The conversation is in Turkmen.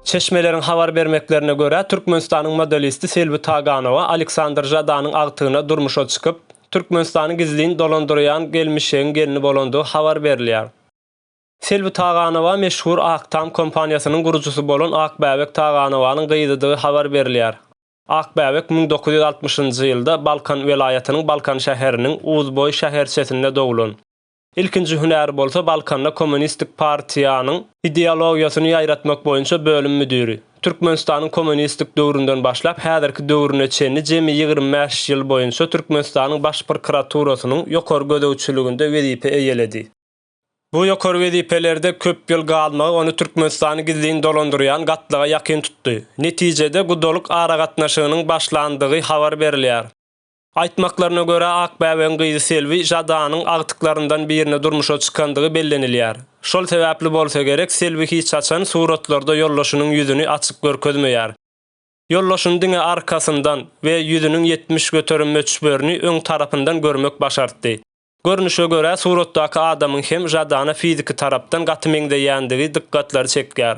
Çeşmeleriň habar bermeklerine görä, Türkmenistanyň modelisti Selbi Taganowa Aleksandr Žadanyň agtygyna durmuşa çykyp, Türkmenistany gizlin dolandyrýan gelmişegiň gelni bolandygy habar berilýär. Selbi Taganowa meşhur Ak Tam kompaniýasynyň gurujysy bolan Akbäbek Taganowanyň gyzydygy habar berilýär. Akbäbek müň dokuz ýüz altmyşynjy ýylda Balkan welaýatynyň Balkan şäheriniň Uzboý şäherçesinde doglan. Ilkinji hünäri bolsa Balkanda Kommunistik partiýanyň ideologiýasyny ýaýratmak boýunça bölüm müdiri. Türkmenistanyň kommunistik döwründen başlap häzirki döwrüne çenli jemi ýigrimi bäş ýyl boýunça Türkmenistanyň Baş prkraturasynyň ýokary gözegçiliginde wezipe eýeledi. Bu ýokary wezipelerde köp ýyl galmagy ony Türkmenistany gizlin dolandyrýan gatlaga ýakyn tutdy. Netijede gudalyk aragatnaşygynyň başlandygy habar berilýär. Aýtmaklaryna görä, Akbäbäň gyzy Selbi Žadanyň agtyklaryndan birine durmuşa çykandygy bellenilýär. Şol sebäpli bolsa gerek, Selbi hiç haçan suratlarda ýoldaşynyň ýüzüni açyk görkezmeýär. Ýoldaşyny diňe arkasyndan we ýüzüniň ýetmiş göterim möçberini öň tarapyndan görmek başartdy. Görnüşe görä, suratdaky adamyň hem Žadana fiziki tarapdan gaty meňzeýändigi dykgatlary çekýär.